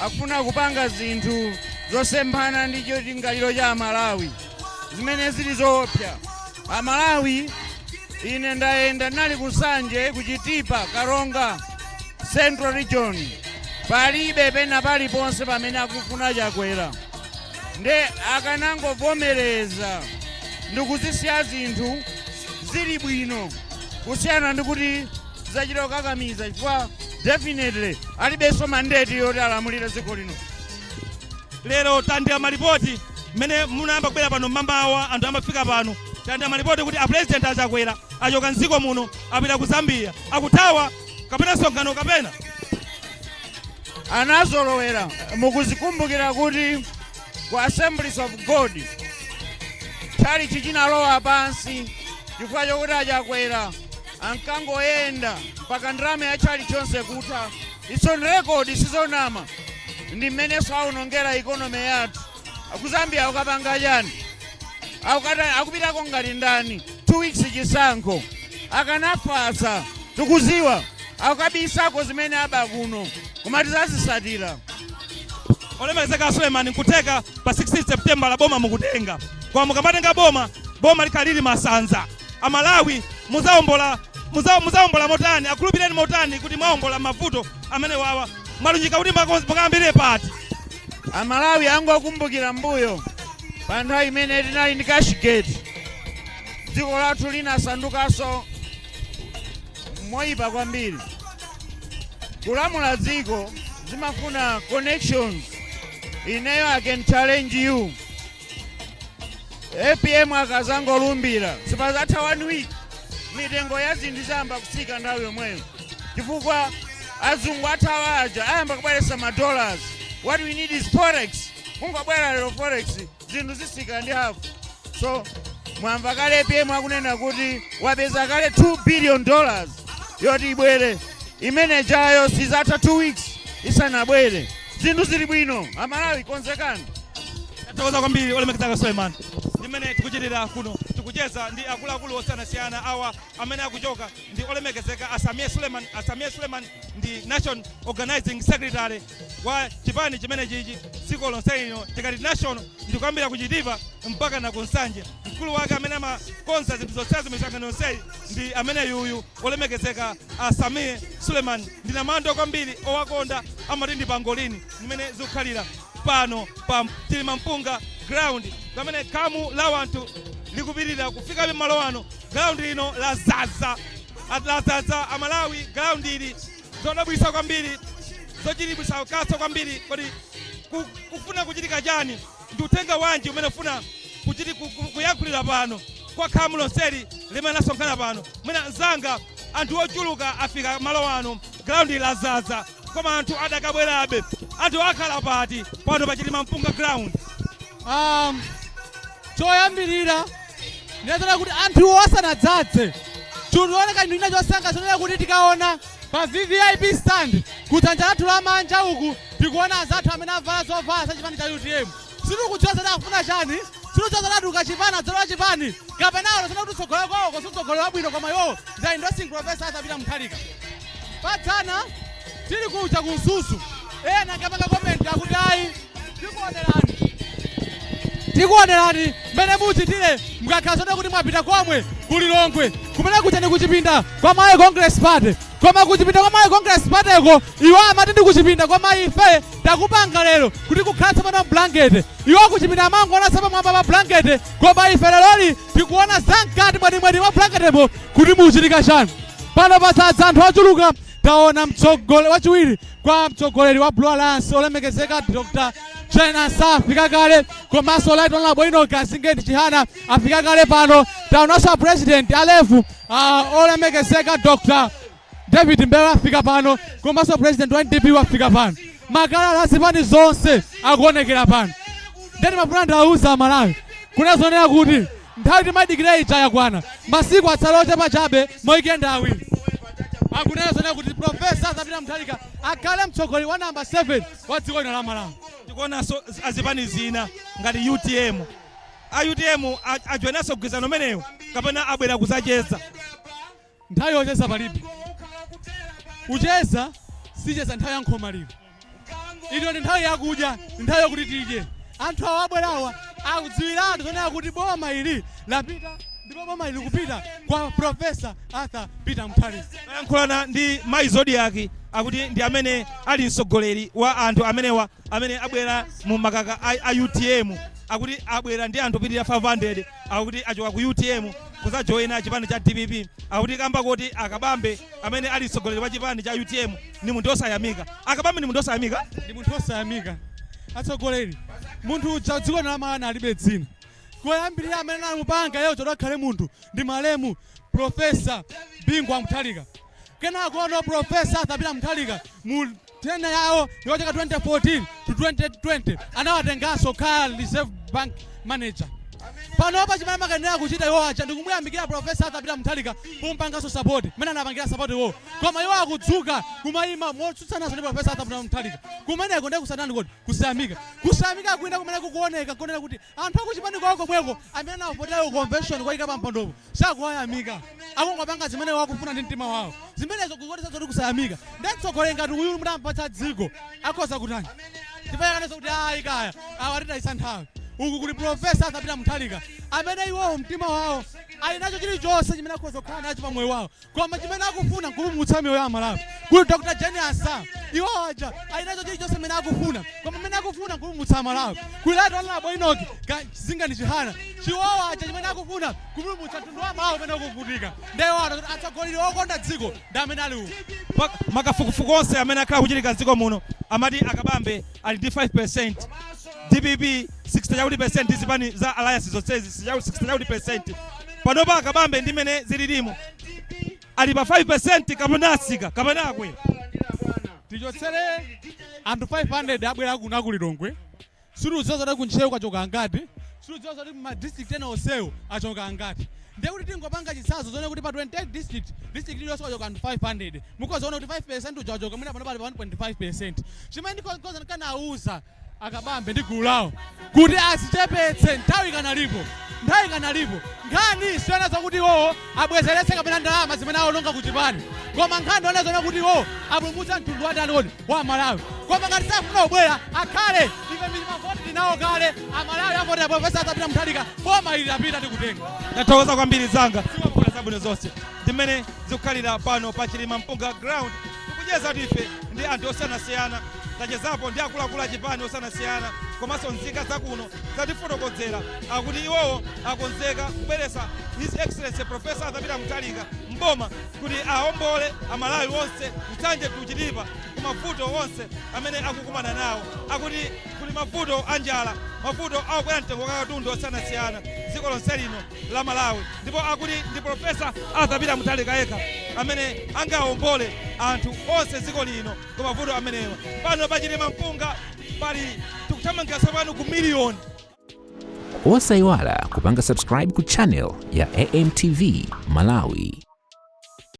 akufuna kupanga zinthu zosemphana ndi cholingalira cha amalawi zimene zili zoopsa amalawi ine ndayenda ndinali kunsanje kuchitipa karonga central region palibe pena paliponse pamene akufuna chakwera nde akanangovomereza ndikuzisiya zinthu zili bwino kusiyana ndikuti Tizachita kukakamiza chifukwa definitely alibenso mandate yoti alamulire dziko lino. Lero tandira malipoti mmene munayamba kubwera pano mmamawa anthu amafika pano. Tandira malipoti kuti a President a Chakwera achoka m'dziko muno apita ku Zambia. Akuthawa kapena msonkhano kapena? Anazolowera mukuzikumbukira kuti ku Assemblies of God tchalichi chinalowa pansi chifukwa chokuti a Chakwera ankangoyenda mpaka ndalama ya tchalitchi yonse kutha its on record sizonama ndi mmenenso awonongera economy yathu kuzambia akukapanga chani akupitako ngati ndani two weeks chisankho akanafatsa tikuziwa akukabisako zimene aba kuno koma tizazisatira olemekezeka suleman nkutheka pa 16 september lo boma mukutenga koma mukamatenga boma boma likhala lili masanza amalawi mu- muzaombola motani akhulupireni motani kuti mwaombola mavuto amene wawa mwalunjika kuti mukayambire pati amalawi angokumbukira mbuyo pa nthawi imene tinali ndi cashgate dziko lathu linasandukanso moyipa kwambiri kulamula dziko zimafuna connections ineyo i can challenge you apm akazangolumbira sipazatha one week mitengo ya zinthu izayamba kutsika nthawi yomweyo chifukwa azungu athawa aja ayamba kubweretsa ma dollars what we need is forex kungobwera lero forex zinthu zisika ndi hafu so mwamva kale apm akunena kuti wapeza kale 2 billion dollars yoti ibwere imenejayo sizatha 2 weeks isanabwere zinthu zili bwino amalawi konzekani tathokoza kwambiri olemekezeka suleiman ndimene tikuchitira kuno tikucheza ndi akuluakulu osiyanasiyana awa amene akuchoka ndi olemekezeka a sameer suleiman a sameer suleiman ndi national organizing secretary wa chipani chimenechichi dziko lonse lino tikati national ndikuyambira kuchitipa mpakana kunsanje mkulu wake amene amakonza zinthu zonse za misangano yonseyi ndi ameneyuyu Olemekezeka a Sameer Suleman ndi namandwa kwambiri owakonda amati ndi pangolini ndimene zikukhalira pano pa Chilimampunga ground pamene khamu la wanthu likupitilira kufika malo ano ground lino lazaza lazaza amalawi ground ili zodabwitsa kwambiri zochititsa kaso kwambiri kodi kufuna kuchitika chani. Ndi uthenga wanji umene ufuna kuchiti ku, ku, kuyankhulira pano kwa khamu lonseli limene lasonkhana pano? Mwene mzanga, anthu ochuluka afika malo ano, ground lazadza, koma anthu adakabwerabe. Anthu akhala pati pano pa Chilima Mpunga ground? Um, choyambirira ndinene zonena kuti anthuwo asanadzadze chikuoneka chinthu china chosangalatsa zonena kuti tikaona Pa VVIP stand ku dzanja lathu lamanja uku tikuona anzathu amene avala zovala za chipani cha utm. Sitikudziwa zoti akufuna chani, sitikudziwa zoti atuluka chipani adzalowa chipani kapena aona zonena kuti utsogoleri kwawoko si utsogoleri wabwino koma iwowo ndi endorsing professor Arthur Peter Mutharika. Padzana tili kuja ku Mzuzu ena ankapanga komenti akuti ayi tikuonerani tikuonerani mmene muchitire mukakhala zoti kuti mwapita komwe ku lilongwe kumene kuja ndi kuchipinda kwa Malawi congress party koma kuchipinda kwa Malawi congress partyko iwo amati ndi kuchipinda koma ife takupanga lero kuti kukhala tsopano mblankete iwo kuchipinda amangoona pamwamba pa blankete koma ife leroli tikuona zamkati mwenimweni mwa blanketemo kuti muchitika chani pano padzadza anthu ochuluka Taona mtsogole wachiwiri kwa mtsogoleri wa Blue Alliance olemekezeka Dr. Jane Ansah afika kale komanso Right Honorable Enoch Kamzingeni Chihana afika kale pano. Taonanso president wa LEF uh, olemekezeka Dr. David Mbewe afika pano komanso president wa NDP wafika pano. Makaka a zipani zonse akuonekera pano. Ndiye ndimafuna ndiwauze aMalawi kunena zonena kuti Nthawi timaidikira ija yakwana. Masiku atsala ochepa chabe maweekend awiri. kunena zonena kuti Prof. Arthur Peter Mutharika akhale mtsogoleri wa number 7 wa dziko lino la Malawi. Tikuonanso azipani zina ngati utm. A utm ajoinanso mgwirizano umenewu kapena abwera kuzacheza? Nthawi yocheza palibe. Kucheza sacheza nthawi ya nkhomaliro. Ino ndi nthawi yakudya, ndi nthawi yokuti tidye. Anthu awa abwerawa akudziwiratu zonena kuti boma ili lapita ndipo boma ili likupita kwa Profesa Arthur Peter Mutharika. Tayankhulana ndi Mayi Zodiac akuti ndi amene ali mtsogoleri wa anthu amenewa amene abwera mu makaka a, a UTM akuti abwera ndi anthu opitirira 500 akuti achoka ku UTM kuzajoina chipani cha DPP akuti kamba kuti akabambe amene ali mtsogoleri wa chipani cha UTM ndi munthu osayamika akabambe ndi munthu osayamika ndi munthu osayamika atsogoleri munthu uja dziko la Malawi alibe dzina koyambirira amene anamupanga iyeyo zoti akhale munthu ndi malemu profesa Bingu wa Mutharika kenakono profesa Arthur Peter Mutharika mu Tenure yawo yochokera 2014 to 2020 anawatenganso kukhala reserve bank manager. Panopa chimene amakayenera kuchita iwo aja ndikumuyamikira Prof. Arthur Peter Mutharika pomupanganso support mmene anapangira support iwowo. Koma iwo akudzuka kumayima motsutsanaso ndi Prof. Arthur Peter Mutharika. Kumeneko ndiye kusatani kodi? Kusayamika. Kusayamika kwina kumene kukuoneka nkonena kuti Anthu a kuchipani kwawo komweko amene anawavotera ku convention kuwayika pampandopo sakuwayamika. Akungopanga zimene iwo akufuna ndi mtima wawo. Zimenezo zikuonetsa zoti kusayamika. Nde mtsogoleri ngati uyu mutampatsa dziko akhoza kutani? Ndipo ayi aonanso kuti ayi kaya awa atitayitsa nthawi. Uku kuli Prof. Arthur Peter Mutharika amene iwowo mtima wawo ali nacho chilichonse chimene akhoza kukhala nacho pamoyo wawo. koma chimene akufuna nkupulumutsa miyoyo ya Amalawi kuli Dr Jane Ansah iwo aja ali nacho chilichonse chimene akufuna koma chimene akufuna nkupulumutsa Malawi kuli Right Honourable Enoch Kamzingeni Chihana iwowo aja chimene akufuna kupulumutsa mtundu wa Malawi umene ukuvutika nde aona kuti atsogoleri okonda dziko ndi amene ali uku Ma- makafukufuku onse amene akhala akuchitika mdziko muno amati a Kabambe ali ndi 5 DPP 60 chakuti percent zipani za alliance zonsezi 60 chakuti percent Panopa a Kabambe ndi m'mene zililimu ali pa 5% kapena atsika kapena akwera? Tichotsere anthu 500 abwera kuno a ku Lilongwe, sitikudziwa zoti ku Ntcheu kwachoka angati, sitikudziwa zoti ku ma district ena onsewa achoka angati. Ndiye kuti tingopanga chitsanzo zonena kuti pa 28 district, district iliyonse kwachoka anthu 500. Mukhoza kuona kuti 5% uja wachoka mwina panopa ali pa 1.5%. Chimene ndikhoza ndikanauza A Kabambe ndi gulu lawo kuti azichepetse, nthawi ikanalipo, nthawi ikanalipo. Nkhani siyonena zokuti iwowo abwezeretse kapena ndalama zimene awononga ku chipani, koma nkhani yonena zonena kuti iwowo apulumutsa mtundu wa ndani kodi? Wa Malawi. Koma ngati sakufuna kubwera, akhale, ife ndi ma vote tili nawo kale, a Malawi avotera Professor Arthur Peter Mutharika, boma ili lapita tikutenga. Ndathokoza kwambiri mzanga, zikomo. Zabwino zonse. Ndi mmene zikukhalira pano pa Chilima Mpunga Ground. Tikuchezatu ife ndi anthu osiyanasiyana, tachezapo ndi akuluakulu a chipani osiyanasiyana komanso nzika za kuno, zatifotokozera akuti iwowo akonzeka kubweretsa His Excellency Professor Arthur Peter Mutharika m'boma kuti aombole Amalawi onse Nsanje to Chitipa ku mavuto onse amene akukumana nawo. Akuti kuli mavuto a njala, mavuto a kukwera mtengo kwa katundu osiyanasiyana dziko lonse lino. la Malawi ndipo akuti ndi Professor Arthur Peter Mutharika yekha amene angawombole anthu onse m'dziko lino ku mavuto amenewa. Pano pachitemampunga pali tikuthamangira tsopano ku miliyoni. Osaiwala kupanga subscribe ku channel ya AMTV Malawi.